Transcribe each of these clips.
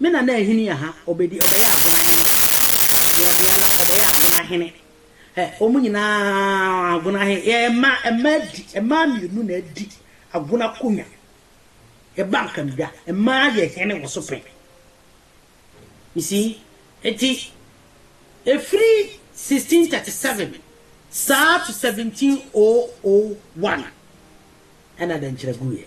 Me nana ahini yɛ ha, ɔbɛdi, ɔbɛyɛ Agona hene, deɛ ɔdeɛ ara, ɔbɛyɛ Agona hene. Ɛ, wɔn nyinaa Agona he, yɛ mma, mma adi, mmaa mmienu na adi Agona akonwa. Yɛba Nkamdwa, mmaa yɛ hene wɔ so pɛn. You see? Enti, ɛfiri 1637 saa to 1701 ɛna dɛnkyerɛ guiɛ.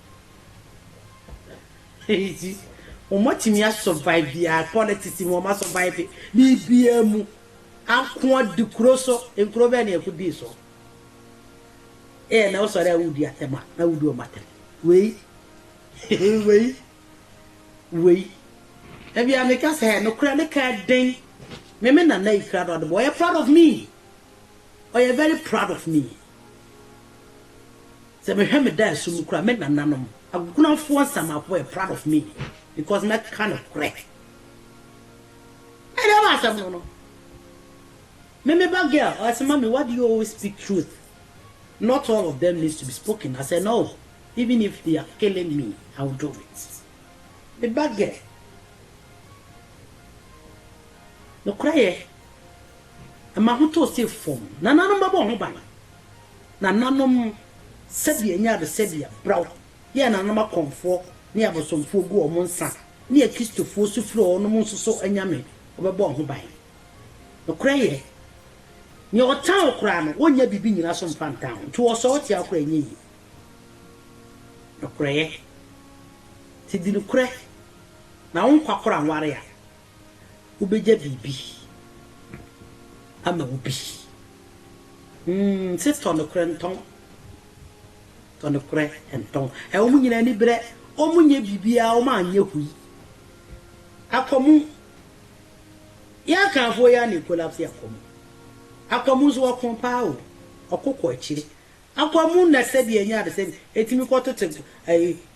Enti wɔatumi a survive biara, politics mu wɔn a survive biribiara mu. Anko adi kuro so, nkuro bɛn na yɛko dii so? Ɛyɛ na wosɔre a wodi atɛm a, na wodi wɔn atɛm. Wei, wei, wei. Ebia meka sɛ ɛ, nokorɛ ne ka den. Me me nana yi kra na ɔde bɔ, ɔyɛ proud of me. Ɔyɛ very proud of me. Sɛ mehwɛ me daaso mu koraa me nananom akunafoɔ nsamafo were proud of me because mɛ ka no korɛ ɛna ɛwɔ asɛm no no me me ba girl ɔsɛ mami why do you always speak truth not all of them needs to be spoken I said no even if they are killing me I will do it me ba girl no korɛ yɛ ɛma ho too se fam nananom bɛbɔ ho ban. Nananom, sɛdeɛ ɛnyaa no sɛ deɛ brɛw yɛɛ nananom akɔmfoɔ ne abosomfoɔ guu wɔn nsa ne Akristofoɔ su firi wɔnom nso so anyame, wɔbɛbɔɔ ho ban. Nokorɛ yɛ, neɛ ɔtan wo koraa no, wonnya biribi nnyina so mfa ntan wo, nti wɔsɔre tia wo koraa a, ɛnyɛ yie. Nokorɛ yɛ, sɛ di nokorɛ na wo nkwa kora nware a, wobegya biribi ama wo bi. Humm sis tɔ nokorɛ ntɔn, tɔ nokorɛ ntɔn. Ɛ wɔn nyinaa ani berɛ, wɔn nyɛ biribiara, wɔn anyɛ hui. Akwamu, yɛn akanfoɔ yi ara na ekolapse akwamu. Akwamu nso ɔko paa o, ɔko kɔ akyire. Akwamu na sɛdeɛ ɛnyɛ ade sɛ etumi kɔ tete ɛyi.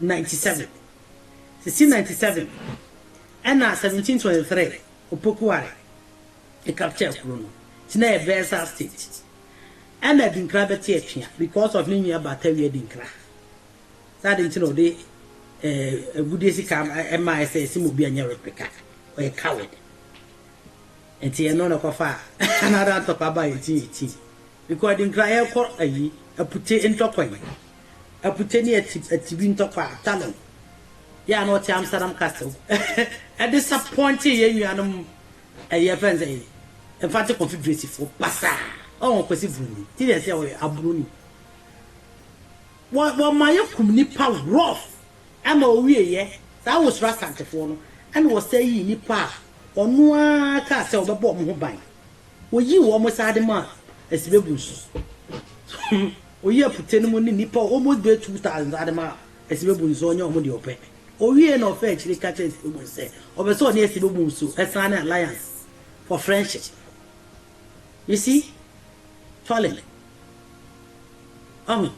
ninety seven, sixteen ninety seven ɛna seventeen twenty three Opoku Ware capture kuro no nti na ɛyɛ Bayelsa state ɛna Adinkra bɛte atua because of ne nua Batawi Adinkra sɛ ade nti na ɔde eh, agudie sika ɛma ɛsɛ ɛsɛ mu obi anyɛ replica ɔyɛ coward nti ɛno na ɛkɔfa another ntɔkwa ba yɛ ti yɛ ti because Adinkra yɛkɔ ayi apute ntɔkwa yi aputɛ ne atibi ntɔkwa a Talon, yɛ a na ɔte Amsterdam Castle, de sapɔnkye yɛn nuanom ɛyɛ fɛn sɛ Infante Konfederasifoɔ pasaa. Ɔn Kwasi Broni, ti deɛ sɛ ɔyɛ abroni. Wɔma yɛ kum nipa rough ɛma owie yɛ saa wosoro Asantefoɔ no ɛna ɔsɛ yii nipa a ɔno ara kaa sɛ ɔbɛbɔ wɔn ho ban. Wɔyii wɔn saa de maa Asibe Bonsu. Oyi afutse no mu nye nyimpa almost bɛyɛ two thousand dze adema Asibebun dze ɔnnyɛ hom dza ɔpɛ. Owiei na ɔfaa ekyir ka kyerɛɛ Asibebun sɛ ɔpɛ sɛ ɔnye Asibebun nso san ne alliance for friendship. You see? Fallen. Ɔho?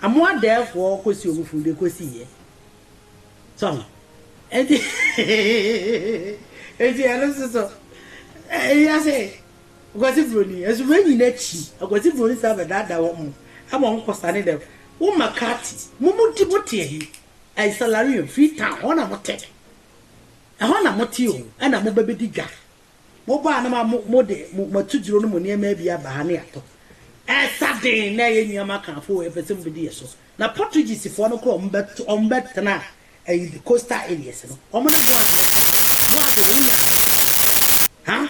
Amo adɛɛfoɔ kɔsi ɔmo funu de kɔsi yɛ. So ɔho? Enti, enti ɛno nso so, ɛyɛ sɛ. Aguadzi Broni, Edze w'enyi na kyi Aguadzi Broni dze abɛdaadaa hɔn ho ama hɔn kɔ sane dɛ wo McCarthy, Mumudi motse he, Isalarion, Freetown, hɔ na motse, hɔ na motse o, nna mobɛbɛdi dwa. Mobaa no ma mode mo atudzuro no mo nneɛmaa bi aba ha ne yɛatɔ. Ɛsa den na ɛyɛ nyiam aka afo o, ɛpɛ sɛ mobɛdi yɛ so. Na Portuguesefoɔ no kora wɔn bɛtena ɛyi the coastal areas no, wɔn ne Boaz bɛtena, Boaz wɔ wo nyaa no. Ha?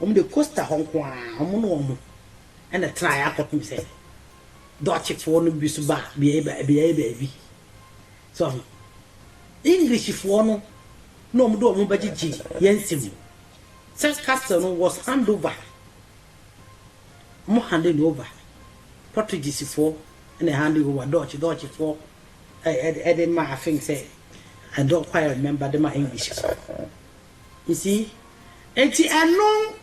wɔde Costa hɔ nko ara, wɔn ne wɔn na ɛtenaeɛ akɔpem sɛ Dutchfoɔ no bi nso baa beaeɛ beaeɛ baabi. So ahu? Englishfoɔ no na wɔde wɔn bɛgyegye yɛn nsam mu. Sɛ castle no was hand over, wɔn handing no over. Portuguesefoɔ na handing over Dutch, Dutchfoɔ ɛde ma I think sɛ I don't quite remember de ma Englishfoɔ. You see? Enti ɛno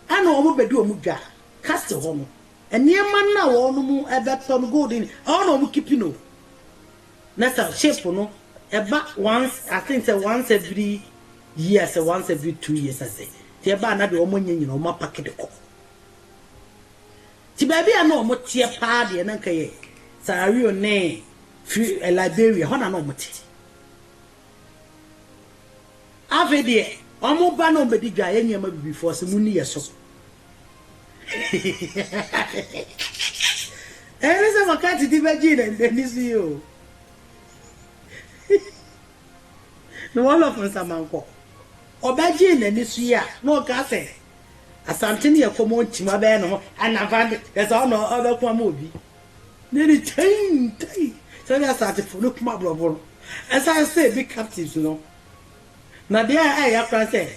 na wɔbɛdi wɔn dwa, castle hɔ no, nneɛma no a wɔnom bɛtɔ no, gold no, ɛhɔ na wɔn keep no. Na sɛ ship no ɛba once, I think sɛ once every year sɛ once every two years asɛ, nti ɛba a na deɛ wɔn anya nyina wɔn apake de kɔ. Nti baabi a na wɔn teɛ paa deɛ na nka yɛ Sarawion ne Fri, Liberia, hɔ na na wɔn te. Afei deɛ ɔmo ba na ɔmo bɛdi dwa yɛ nneɛma bibi fɔ se monni yɛ so Ɛyɛ ne sɛ maka titi bɛgyee na nani so yi o The wall of Nsamankɔ ɔbɛgyee nani so yi a na ɔka sɛ Asante ne yɛ kɔmɔ ntim abɛyɛ ne ho anafante yɛ sɛ ɔna ɔbɛko ama obi ne ne kyɛn tai sɛdeɛ Asantefo no kum aborɔfo no ɛsan sɛ ebi captives no Na deɛ ɛyɛ ya koraa sɛ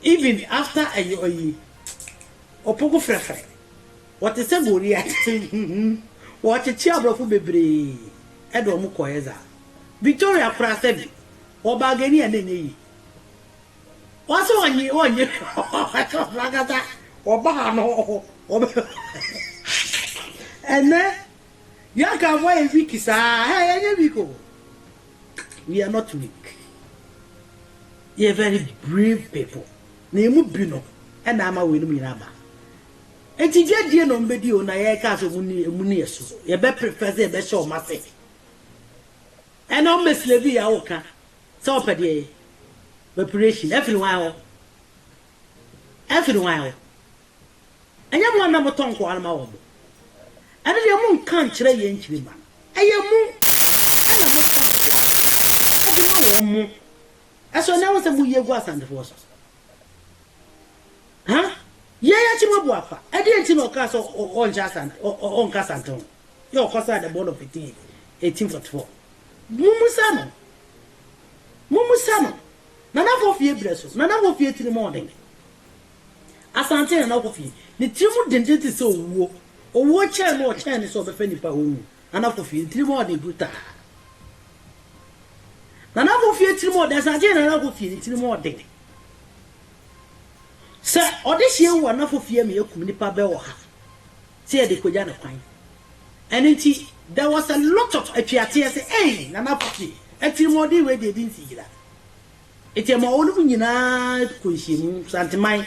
even after ɛyi ɔyi ɔpoku frɛfrɛ wɔte sɛ Goliat wɔkyekye aborɔfo bebree ɛde wɔn kɔeɛ dza Victoria koraa sɛbi ɔbaa Guinea na ɛnyɛ yie ɔse ɔnye ɔnye ɔte ɔno ankasa ɔbaa no ɔbɛ ɛnɛ Bianca afo ayɛ weak saa ɛyɛ nyɛ weak o. we are not weak, yɛyɛ very brave people, na yɛn mu bi no ɛna ama wei no mu nyinaa ba. Enti dwadie na wɔbɛdi o na yɛka sɛ wɔn ni wɔn ni yɛ so, yɛbɛ prefer sɛ yɛbɛhyɛ wɔn ase. Ɛna wɔn bɛ slave yɛ awoka sɛ wɔpɛ deɛ yɛ, operation ɛfiri wɔn hɔ, ɛfiri wɔn hɔ. Ɛnyɛ mo a na motɔ nkoa no ma wɔn bo? Ɛno deɛ monnka nkyerɛ yɛn nkyirimma no. Ɛyɛ mo na motɔ nkoa no de ma wɔn. Mo nso ɛnnɛ ho sɛ moyi agu Asantefoɔ so. Ha? Yei akyi moabu afa. Ɛdeɛn nti na ɔkaa sɛ ɔnhyɛ Asante, ɔnka Asante ho? Yɛ ɔkɔ saa the board of 18, 1844. Mommisa no. Mommisa no. Nanafoɔ fie berɛ so. Nanafoɔ fie tirimɔɔden. Asante ha na ɔkɔ fie. Ne tiri mu denden te sɛ owuo. Owuo kyɛn no ɔkyɛn no sɛ ɔbɛfa nipa hɔ wu. Nana kɔ fie. Ne tiri mu ɔden brutaa. Nana kɔ fie tiri mu ɔden. Asante ha nana kɔ fie. Ne tiri mu ɔden. Sɛ ɔde hyɛ wu a nana kɔ fie ama yɛakum nipa bɛ wɔ ha sɛ yɛde kɔgya no kwan. Ɛno nti there was a lot of atweateɛ sɛ ei nana kɔ fie atirimuɔden wei deɛ ɛdi nsigyira. Enti ɛma wɔnom nyinaa kɔ nhyiamu. Santeman,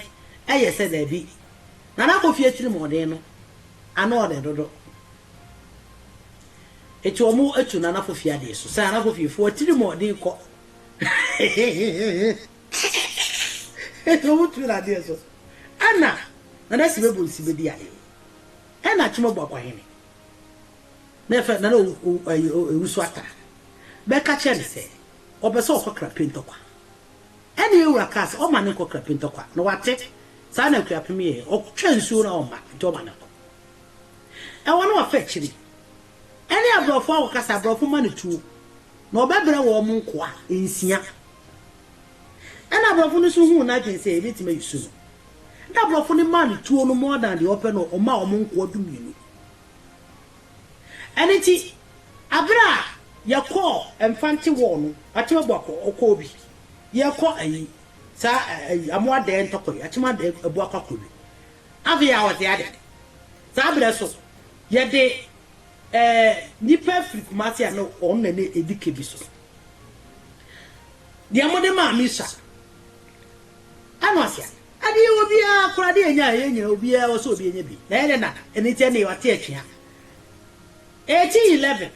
Ɛyɛ sɛ daabi. Nana Kofi atirimɔden no, ano ɔdɛ dodo. Enti wɔatu Nana Kofi adeɛ so sɛ Nana Kofi fo atirimɔden kɔ. Enti wɔatu no adeɛ so. Ɛna Nana Sibe Bonsi bɛdi adeɛ. Ɛna Akyema Boakwahene, Nana Owusu Atta, bɛka kyerɛ no sɛ ɔpɛ sɛ ɔkɔ Krapintɔkwa. Ɛnna yɛn wura kaa sɛ ɔmma no nkɔ Krapintɔkwa, na wate. Saa na Akuapem yɛeɛ. Ɔtwaa nsuo no a ɔmma, enti ɔma no kɔ. Ɛwɔ ne wɔfa akyiri. Ɛne aborɔfo akɔkasa, aborɔfo mma no tuo, na ɔbɛbrɛ wɔn nkoa nsia. Ɛnna aborɔfo no nso huu n'adwene sɛ yɛbɛtumi ayi su no. Ɛnna aborɔfo no maa no tuo no more than deɛ ɔpɛ no, ɔmaa wɔn nkoa dumienu. Ɛno nti, bere a yɛkɔɔ Mfante Wall no, Akyem Abuakwa bi, yɛrekɔ ayi, saa ɛ, ayi, Amoadaɛ ntɔkwa yi, Akyem Adaɛ Abuakwa kɔ bi. Afei a ɔte adɛn? Saa bere so, yɛde ɛ, nnipa afiri Kumasi a na wɔn na na edi ka bi so. Deɛ mode maa me sua. Ano ase a, Adeɛ obiara kora de anya a ɛyɛ nyina obiara wɔ sɛ obi anya bi na ɛyɛ dɛ nada ɛno nti ɛnee wate atwea 1811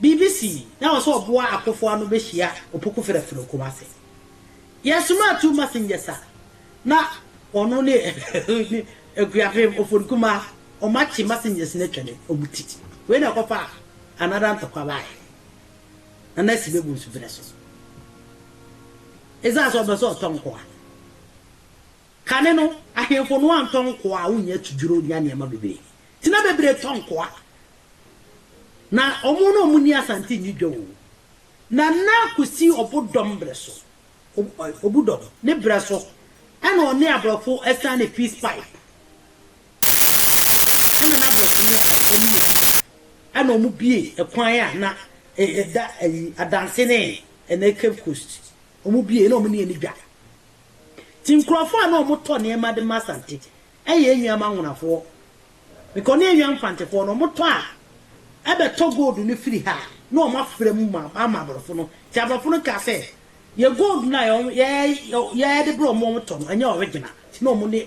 biribi sii na ɛwɔ sɛ ɔboa akofo ano bɛhyia opoku frɛfrɛ wɔ Kumasi yɛ somaa two messengers a na ɔno ne Akuapem Oforikumaa ɔmo akye messengers no atwa ne ɔmo ti wei na ɛkɔfa another ntɔkwa baeɛ Nana Asi bɛbu nsubrɛ so. Esiane sɛ ɔpɛ sɛ ɔtɔ nkoa. Kane no, ahemfo no antɔ nkoa a wonnya atudwiriw nnya nneɛma bebree nti, na bebree tɔ nkoa. Ná wɔn na wɔnni asante nni dwa oo, na na kosi ɔbodɔm bere so, ɔbodɔm, ne bere so na wɔne aborɔfo asiane peace pipe. Ɛna na aborɔfo no ɛkɔ no yɛ bi. Ɛna ɔmo bue ɛkwan a na ɛda ɛyi adanse ne ɛnɛ cape coast ɔmo bue na ɔmo ne yɛn dwa nti nkorɔfoɔ a na ɔmo tɔ nneɛma de ma asante ɛyɛ yɛn nua mangonafoɔ because ne yɛn nua mfantefoɔ no ɔmo tɔ a ɛbɛ tɔ gold no firi ha na ɔmo afra mu ma ama aborɔfo no nti aborɔfo no kaa sɛ yɛ gold no a yɛ yɛ yɛ de brɛ ɔmo ɔmo tɔ no ɛnyɛ original nti na ɔmo ne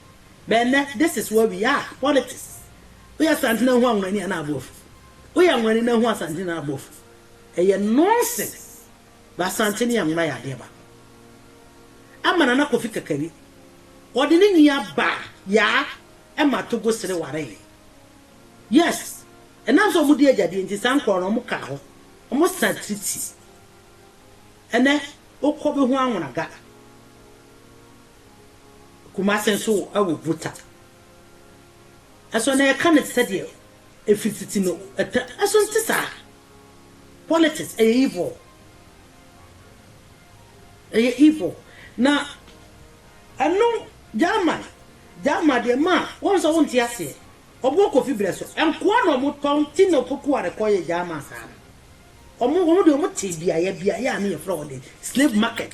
But ɛnnɛ, this is where we are, politics. Woyɛ Asante na hu Anwonani anaa Aboafo. Woyɛ Anwonani na hu Asante anaa Aboafo. Ɛyɛ nonsense. But Asante ne Anwona yɛ adeɛ baako. Ɛma Nana Kofi Kakari, ɔde ne nua baa Yaa ɛma Togo sere wareeɛ. Yes, ɛnam sɛ wɔdi agyadeɛ nti saa nkorɔ no wɔkaa hɔ, wɔsaa treaty. Ɛnnɛ, wokɔ bɛhu Anwonaga. Kumase nso wɔ Buta. Ɛso na yɛka no te sɛ deɛ ɛfiri tete no ɛtɛ ɛso nte saa. Politics ɛyɛ evil. Ɛyɛ evil. Na ɛno German German deɛ ma wɔn sɛ wɔnte aseɛ. Ɔbɔ Kofi berɛ so. Nkoa na wɔn tɔ nti na Opoku Ware kɔ yɛ German saa no. Wɔn wɔn deɛ wɔn te biaeɛ biaeɛ a ne yɛfrɛ wɔn de slave market.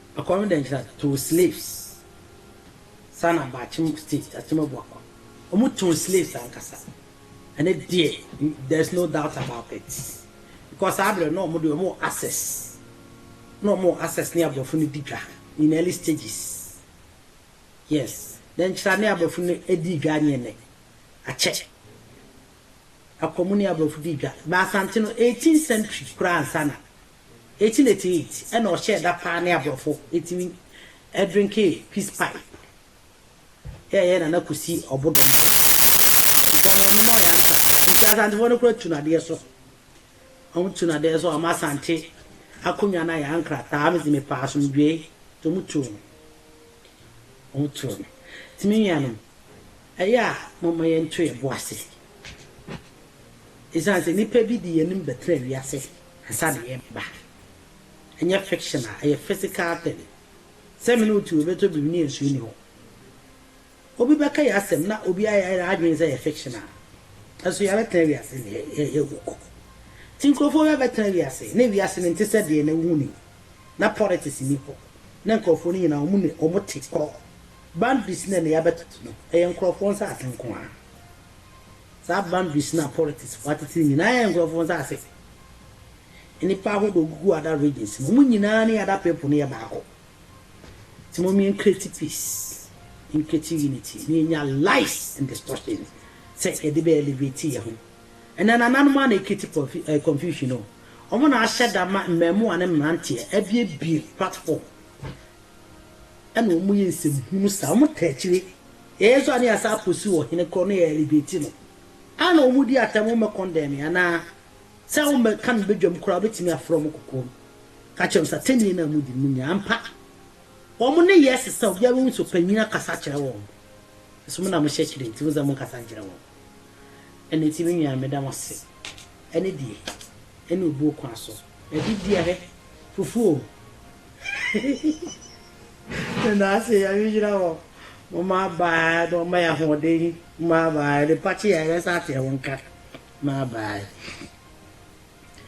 Akɔm dɛ nkyira too slaves saa na baakyem state akyem abu akɔm ɔmo too slaves ankasa ɛnɛ deɛ there is no doubt about it because saa berɛ no na ɔmo deɛ ɔmo wɔ access na ɔmo wɔ access ne abrɔfo no di dwa in early stages yes dɛ nkyira ne abrɔfo no dii dwa anyeɛ nɛ akyɛ akɔm ne abrɔfo dii dwa bɛ asante no 18 century koraa ansa na 1888 na ɔhyɛɛ da paa ne aborɔfo tumi drinkee peace pipe yɛɛyɛ Nana Kwesi Ɔbodom de. Nti ɔno ɔnom ɔyɛ ansa. Nti Asantefoɔ no kora tu no adeɛ so. Ɔmo tu no adeɛ so ɔma Asante akonwa no ayɛ ankrataa mese mepɛ asomdwoe nti ɔmo tuu no. Ɔmo tuu no. Nti me nuanom ɛyɛ a momma yɛnto yɛbo ase. Esiane sɛ nnipa bi de yɛn anim bɛtena wiase. Nsa de yɛ me ba. Ɛnyɛ fiction a, ɛyɛ physical thing. Sɛ me ne wo te obeto biribi ne nsuo nni hɔ. Obi bɛka yɛn asɛm na obi ayɛ n'adwene sɛ ɛyɛ fiction a, nso yɛabɛtena wiase na yɛawu kɔ. Nti nkurɔfoɔ bi abɛtena wiase na wiase no nte sɛ deɛ na wohu no yi. Na politics nni hɔ. Na nkurɔfoɔ no nyinaa wɔn ne wɔn te korɔ. Boundaries no a na yɛabɛtoto no, ɛyɛ nkurɔfoɔ nsase nko ara. Saa boundaries no a politics fo ateteri nyinaa yɛ nkurɔfo nsase. Nnipa ahodoɔ gugu other regions no, wɔn nyinaa ne other people no yɛ baako. Nti mom yɛn create peace, yɛn create unity, na yɛnya lies and distortion sɛ yɛde bɛ elevate yɛn ho. Ɛnɛ nananom ara na ɛcreate confusion o. Wɔn na ahyɛ da ma mmɛɛmoa ne mmeranteɛ abuebue platform ɛna ɔmo yɛ nsɛm hunu saa ɔmo taa akyire yɛyɛ nso a ne yɛasan pursue ɔhene korɔ na yɛ elevate no ana ɔmo di atɛm ɔmo bɛ condemn me anaa sɛ ɔmo bɛ ka me badwam koraa ɔbɛtumi afrɛ ɔmo kɔkɔɔ no ka kyerɛ ɔmo sɛ atɛnnie no a ɔmo di no mo nya ampa ɔmo ne yɛ sesa obiara bɛhu sɛ ɔpanyin akasa akyerɛ wɔn mo nso mo na mo hyɛ akyire nti mo sɛ mo nkasa nkyerɛ wɔn ɛna ti me nua meda mo ase ɛne deɛ ɛne obuo kwan so ɛde deɛ hɛ fufuo Meda ase, Nyame nhyira mo, mo mmabaa na ɔmma yɛ ahoɔden, mmabaa, ɛde pa kye yɛ a yɛbɛsan ateɛ mo nka, mmabaa.